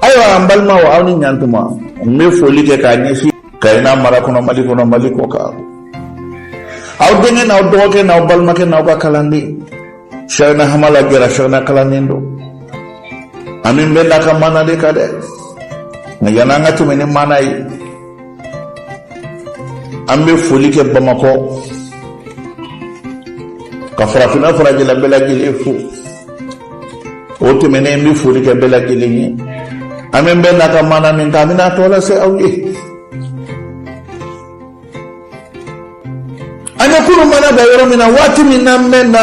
ayiwa an balimaw aw ni ɲantuma n bɛ foli kɛ k'a ɲɛsin kayina mara kɔnɔ mali kɔnɔ mali kɔkan aw denkɛ n'aw dɔgɔkɛ n'aw balimakɛ n'aw ka kalanden sɛgɛnna hamala gɛrɛ sɛgɛnna kalanden don an bɛ nbɛnna ka mana de kan dɛ nka yan'an ka tɛmɛ ni mana ye an bɛ foli kɛ bamakɔ ka farafinna farajɛla bɛɛ lajɛlen fo o tɛmɛnen n bɛ foli kɛ bɛɛ lajɛlen ye an bɛ nbɛnna ka mana min kan an bɛna tɔ lase aw ye an ye kunun mana da yɔrɔ min na waati min na nbɛnna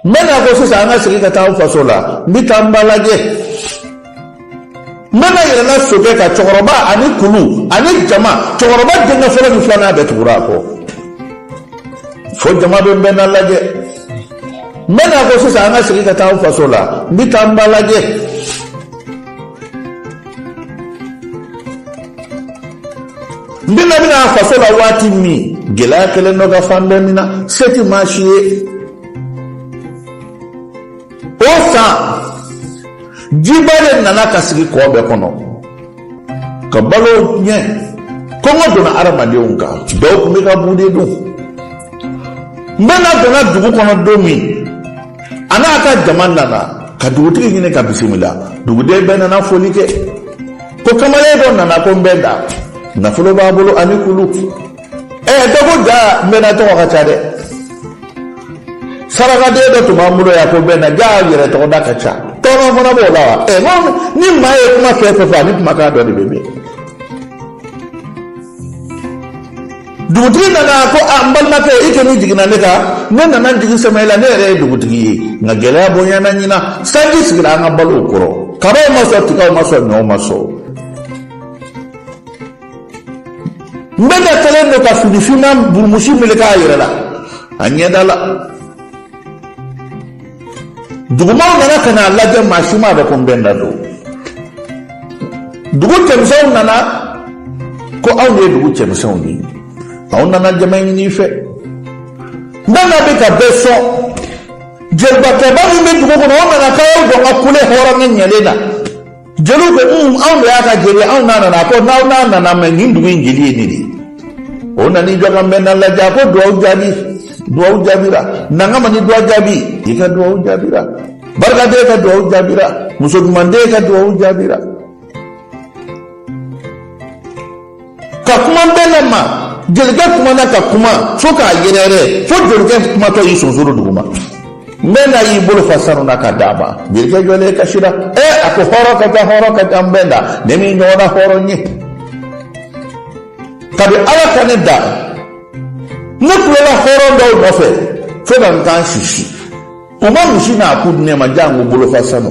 nbɛnna ko sisan an ka segin ka taa an faso la n bɛ taa n ba lajɛ nbɛnna yɛlɛla sokɛ kan cɛkɔrɔba ani kulu ani jama cɛkɔrɔba denkɛ fɔlɔ ni filanan bɛɛ tugura a kɔ fo jama bɛ nbɛnna lajɛ nbɛnna ko sisan an ka segin ka taa an faso la n bɛ taa n ba lajɛ Nbɛnna bɛ na faso la waati min gɛlɛya kɛlen don ka fan bɛɛ minɛ se tɛ maa si ye o san jiba de nana ka sigi kɔ bɛɛ kɔnɔ ka balo ɲɛ kɔngɔ donna adamadenw kan dɔw tun bɛ ka bu de dun nbɛnna donna dugu kɔnɔ don min a n'a ka jama nana ka dugutigi ɲini ka bisimila duguden bɛɛ nana foli kɛ ko kamalen dɔ nana ko nbɛnna nafolo b'a bolo ani kulu ɛ dɔ ko jaa nbɛnna tɔgɔ ka ca dɛ sarakaden dɔ tun b'an bolo yan ko nbɛnna jaa yɛrɛ tɔgɔ da ka ca tɔɔrɔ fana b'o la wa ɛ ni maa ye kuma fɛn fɛn fɔ ani kumakan dɔ de bɛ mɛn dugutigi nana ko a n balimakɛ i kɔni jiginna ne kan ne nana n jigi sɛmɛ i la ne yɛrɛ ye dugutigi ye nka gɛlɛya bonyana ɲina sanji sigira an ka balow kɔrɔ kabaw ma sɔn tigaw ma sɔn ɲɔw ma sɔn nbɛnna kɛlen don ka fini finman burumusi meleke a yɛrɛ la a ɲɛda la dugumaw nana ka n'a lajɛ maa si m'a dɔn ko nbɛnna don dugu cɛmisɛnw nana ko anw ye dugu cɛmisɛnw ye anw nana jama ɲini i fɛ nbɛnna bɛ ka bɛɛ sɔn jelibakɛba min bɛ dugu kɔnɔ o nana k'aw jɔ ka kule hɔrɔn ni ɲɛlen na jeliw ko un anw de y'a ka jeli anw n'a nana ko n'aw n'a nana mɛ nin dugu in jeli ye ne de ye o nana i jɔ ka nbɛnna lajɛ a ko duwawu jaabi duwawu jaabira nankama ni duwa jaabi i ka duwawu jaabira barikaden ka duwawu jaabira muso ɲumanden ka duwawu jaabira ka kuma nbɛnda ma jelikɛ kumana ka kuma fo k'a yɛrɛyɛrɛ fo jelikɛ kumatɔ y'i sonsoro duguma nbɛnda y'i bolo fa sanu na ka d'a ma jelikɛ jɔlen kasira ɛ a ko hɔrɔn ka ca hɔrɔn ka ca nbɛnda ne m'i ɲɔgɔnna hɔrɔn ye kabi ala ka ne da ne kulela hɔrɔn dɔw nɔfɛ fo ka n kan sisi u ma misi n'a ku di ne ma janko bolofa sanu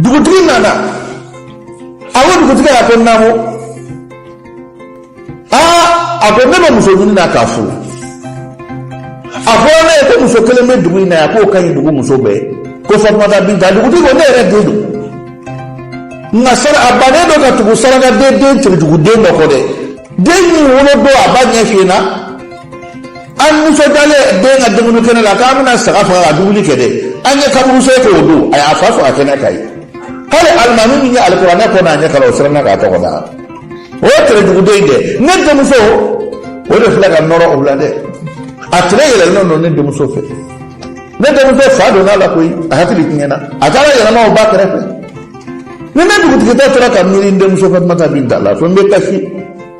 dugutigi nana a ko dugutigi a ko naamu aa a ko ne bɛ muso ɲini na k'a furu a fɔra ne ye ko muso kelen bɛ dugu in na yan k'o ka ɲi dugu muso bɛɛ ko fatumata binta dugutigi ko ne yɛrɛ den don nka sara a bannen don katugu sarakaden den terejuguden don kɔ dɛ den nin wolo don a ba ɲɛ fiyɛna an nisɔndiyalen den ka dumuni kɛnɛ la k'an bɛna saga faga ka dumuni kɛ dɛ an ye kaburuso kɛ o don a y'a fa faga kɛnɛ kan yen k'ale alimami min ye alikuranɛ kɔ n'a ɲɛ kalan o siranna k'a tɔgɔ da o ye terejuguden in dɛ ne denmuso o de filɛ ka nɔrɔ o la dɛ a tere yɛlɛlen don ne denmuso fɛ ne denmuso fa donna a la koyi a hakili tiɲɛna a taara yɛlɛma o ba kɛrɛfɛ ni ne dugutigitɔ tora ka miiri n denmuso fatumata binta la fo n bɛ kasi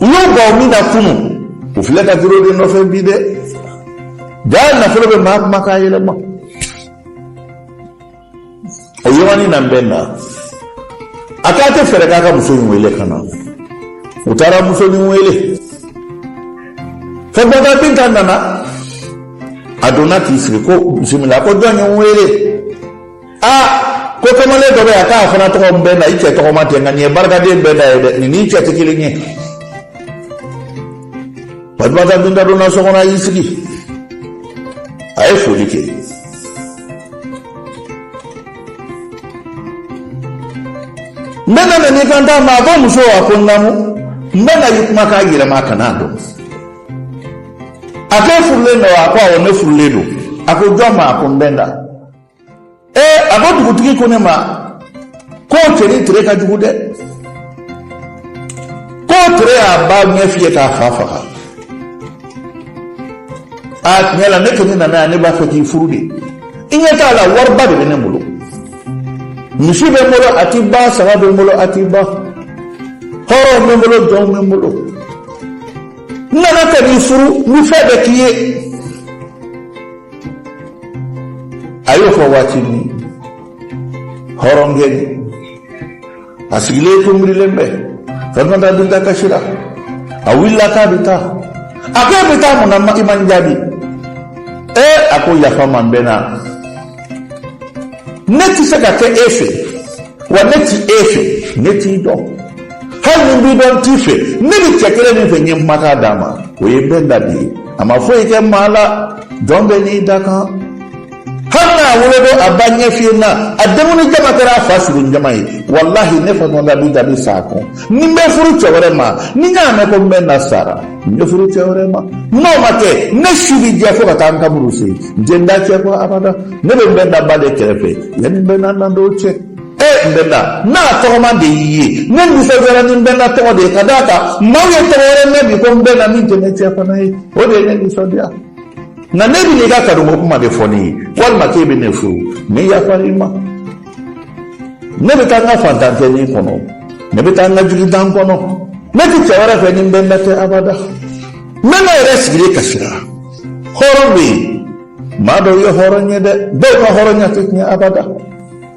ɲɔgɔnbaw min na kunu o filɛ ka duro de nɔfɛ bi dɛ jaa nafolo bɛ maa kumakan yɛlɛma o yɔrɔnin na nbɛnda k'a tɛ fɛɛrɛ k'a ka muso in wele ka na u taara muso in wele fatumata binta nana a donna k'i sigi ko bisimila ko jɔn ye n wele aa ko kamalen dɔ bɛ yan k'a fana tɔgɔ nbɛnda i cɛ tɔgɔma ten nka nin ye barikaden nbɛnda ye dɛ nin n'i cɛ tɛ kelen ye fatumata binta donna so kɔnɔ a y'i sigi a ye foli kɛ nbɛnda nan'i kant'a ma a ko muso a ko naamu nbɛnda y'i kumakan yɛlɛma a kana a dɔn a ko furulen don wa a ko awɔ ne furulen don a ko jɔn ma a ko nbɛnda ee a ko dugutigi ko ne ma ko tere tere ka jugu dɛ ko tere y'a ba ɲɛ fiyɛ k'a fa faga a tiɲɛ la ne kɔni nana yan ne b'a fɛ k'i furu de i ɲɛ t'a la wariba de bɛ ne bolo misi bɛ n bolo a ti ban saga bɛ n bolo a ti ban hɔrɔnw bɛ n bolo jɔnw bɛ n bolo n nana ka n'i furu ni fɛn bɛɛ k'i ye A y'o fɔ waati min hɔrɔnkɛ a sigilen tun miirilen bɛ fɛnda dun ta kasi la a wulila k'a bɛ taa a ko i bɛ taa mun na i ma n jaabi ee a ko yafa n ma nbɛnda ne tɛ se ka kɛ e fɛ wa ne tɛ e fɛ ne t'i dɔn hali ni n b'i dɔn n t'i fɛ ne bɛ cɛ kelen min fɛ n ye n makan d'a ma o ye nbɛnda de ye a ma foyi kɛ maa la jɔn bɛɛ n'i dakan hali n'a wolodon a ba ɲɛ fiyenna a denkundi jama kɛra a fa su don jama ye walahi ne fa nɔnda b'i jaabi sa ko ni n bɛ furu cɛ wɛrɛ ma ni n y'a mɛn ko nbɛnda sara n bɛ furu cɛ wɛrɛ ma n'o ma kɛ ne si bɛ jɛ fo ka taa n kaburu se n tɛ n da cɛ kɔ abada ne bɛ nbɛnda ba de kɛrɛfɛ yanni nbɛnda na don cɛ e nbɛnda n'a tɔgɔma de y'i ye ne nisɔndiyara ni nbɛnda tɔgɔ de ye ka d'a kan maaw ye tɔgɔ wɛrɛ mɛn bi ko nbɛnda min tɛ ne cɛ fana ye o de ye ne nisɔndiya nka n'e bɛ n'i ka kanuko kuma de fɔ ne ye walima k'e bɛ ne furu ne yafara i ma ne bɛ taa n ka fantantɛni kɔnɔ ne bɛ taa n ka jugudan kɔnɔ ne tɛ cɛ wɛrɛ fɛ ni nbɛnda tɛ abada nbɛnda yɛrɛ sigilen kasira hɔrɔn bɛ yen maa dɔw ye hɔrɔn ye dɛ dɔw ka hɔrɔnya tɛ tiɲɛ abada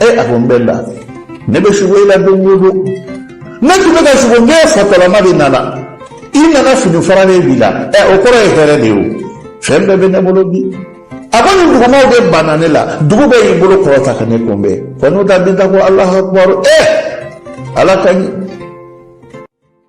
e a ko nbɛnda ne bɛ sugo i la don o don ne tun bɛ ka sugo n k'e fatɔlama de nana i nana fini faralen b'i la ɛ o kɔrɔ ye hɛrɛ de ye o fɛn bɛɛ bɛ ne bolo bi a ko nin dugumaaw de banna ne la dugu bɛɛ y'i bolo kɔrɔta ka ne kunbɛn kɔnɔ da bi da ko alahu akubaru ɛ ala ka ɲi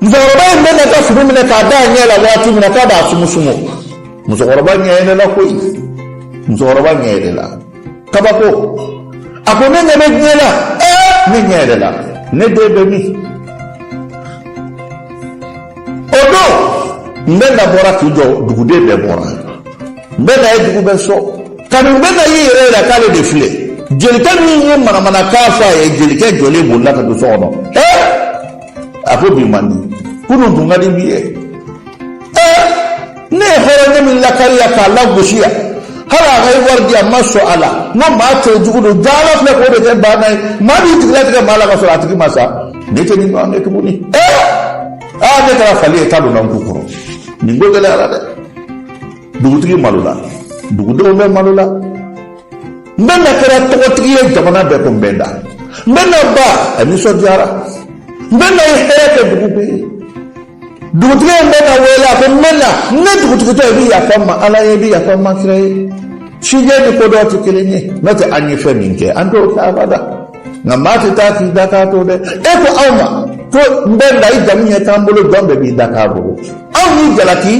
musokɔrɔba ye nbɛnda ka fini minɛ k'a da a ɲɛ la waati min na k'a b'a sumusumu musokɔrɔba ɲɛ yɛlɛla koyi musokɔrɔba ɲɛ yɛlɛla kabako a ko ne ɲɛ bɛ diɲɛ la ɛɛ ne ɲɛ yɛlɛla ne den bɛ min o don nbɛnda bɔra k'i jɔ duguden bɛɛ bɔra nbɛnda ye dugu bɛɛ sɔn kabini nbɛnda y'i yɛrɛ yira k'ale de filɛ jelikɛ min ye manamanakan fɔ a ye jelikɛ jɔlen bolila ka don so kɔnɔ ɛɛ a ko bi man di kunun tun ka di bi ye ɛɛ ne ye hɔrɔnkɛ min lakari yan k'a lagosi yan hali a ka ye wari di a ma sɔn a la n ko maa cɛ jugu don jaa ala filɛ k'o de kɛ baana ye maa b'i jigi latigɛ maa la ka sɔrɔ a tigi ma sa ne tɛ nin ɲɔgɔn kɛ tuguni ɛɛ aa ne kɛra fali ye k'a donna n kun kɔrɔ nin ko gɛlɛyara dɛ dugutigi malola dugudenw bɛɛ malola nbɛnda kɛra tɔgɔtigi ye jamana bɛɛ ko nbɛnda nbɛnda ba a nisɔndiyara nbɛnda ye hɛrɛ kɛ dugu bɛɛ ye dugutigi ye nbɛnda wele a ko nbɛnda ne dugutigi don i bɛ yafa n ma ala ye i bɛ yafa n ma kira ye sijɛ ni kodɔn tɛ kelen ye n'o tɛ an ye fɛn min kɛ an t'o kɛ abada nka maa tɛ taa k'i dakan to dɛ e ko aw ma ko nbɛnda i jamu ɲɛ t'an bolo jɔn bɛɛ b'i dakan bolo aw ni jalaki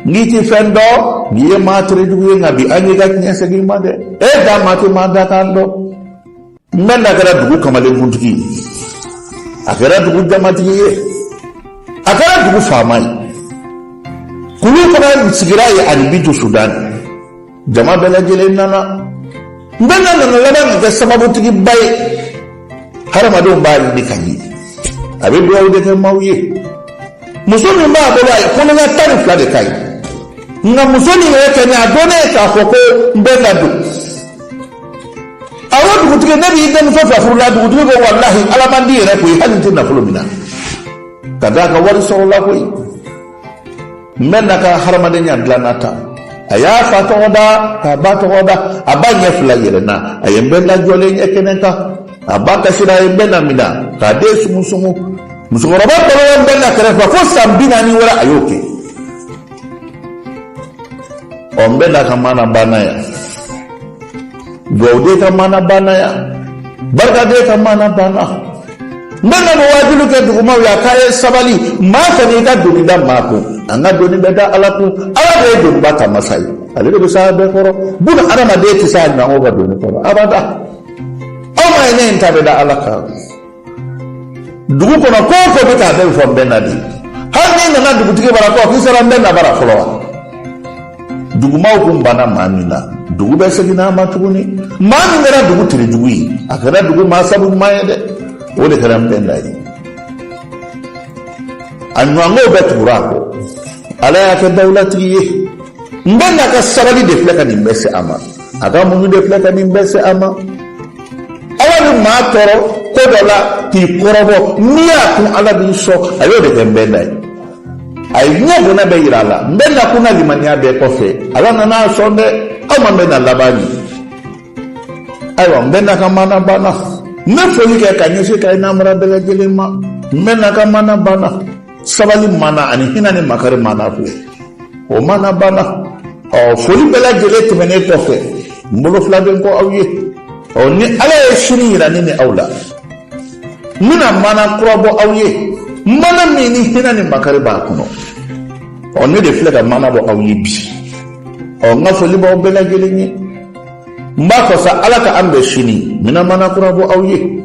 n'i tɛ fɛn dɔn i ye maa terejugu ye nka bi an y'i ka tiɲɛ segin i ma dɛ e da maa tɛ maa dakan dɔn n bɛ na kɛra dugu kamalenkuntigi ye a kɛra dugu jamatigi ye a kɛra dugu faama ye kulu fana sigira ye ani bintu sudan jama bɛɛ lajɛlen nana n bɛ na nana laban ka kɛ sababutigiba ye hadamadenw b'a ɲini ka ɲi a bɛ dugawu de kɛ maaw ye musonin b'a bolo a ye ko ne ka tan ni fila de ka ɲi nka musonin yɛrɛ kɛ ne a dɔn ne ye k'a fɔ ko n bɛ na don awɔ dugutigi ne b'i denmuso fɛ furu la dugutigi ko walahi ala man di yɛrɛ koyi hali n tɛ nafolo minɛ ka d'a kan wari sɔrɔla koyi n bɛ na ka hadamadenya dilanna ta a y'a fa tɔgɔ da k'a ba tɔgɔ da a ba ɲɛ fila yɛlɛnna a ye n bɛ na jɔlen ye kɛnɛ kan a ba kasira a ye n bɛ na minɛ k'a den sumusumu musokɔrɔba tolen ye n bɛ na kɛrɛfɛ fo san binaani wɛrɛ a y'o kɛ ɔ n bɛ na ka maana banna yan dugawu de ka maana banna yan barika de ka maana banna n bɛna nin waajuli kɛ dugumaw ye a k'a ye sabali maa kana i ka doni da maa kun an ka doni bɛ da ala kun ala de ye doniba ta masa ye ale de bɛ s'a bɛɛ kɔrɔ buna adamaden tɛ s'a ɲɔgɔn ka doni kɔrɔ abada aw m'a ye ne in ta bɛ da ala kan dugu kɔnɔ ko o ko bɛ t'a bɛɛ fɔ n bɛ na de hali n'i nana dugutigi bara ko k'i sera n bɛ na bara fɔlɔ wa dugumaaw kun banna maa min na dugu bɛɛ seginna a ma tuguni maa min kɛra dugu terejugu ye a kɛra dugu maa sabu ɲuman ye dɛ o de kɛra n bɛ na ye a ɲɛngow bɛɛ tugura a kɔ ala y'a kɛ dawulatigi ye n bɛ na ka sabali de filɛ ka nin bɛɛ se a ma a ka muɲu de filɛ ka nin bɛɛ se a ma ala bɛ maa tɔɔrɔ ko dɔ la k'i kɔrɔbɔ n'i y'a kun ala b'i sɔn a y'o de kɛ n bɛ na ye a ye diɲɛ bonya bɛɛ yira a la n bɛ na kun na limaniya bɛɛ kɔfɛ ala nana a sɔn dɛ aw ma n bɛ na laban mɛn ayiwa n bɛ na ka maana banna n bɛ foli kɛ ka ɲɛsin kayi n'a mara bɛɛ lajɛlen ma n bɛ na ka maana banna sabali maana ani hinɛ ni makari maana ko o maana banna ɔ foli bɛɛ lajɛlen tɛmɛnen kɔfɛ n bolo fila bɛ n kɔ aw ye ɔ ni ala ye sini yira ne ni aw la n bɛna maana kura bɔ aw ye maana min ni hinɛ ni makari b'a kɔnɔ ɔ ne de filɛ ka maana bɔ aw ye bi ɔ n ka foli b'aw bɛɛ lajɛlen ye n b'a fɔ sa ala ka an bɛn sini n bɛna maana kura bɔ aw ye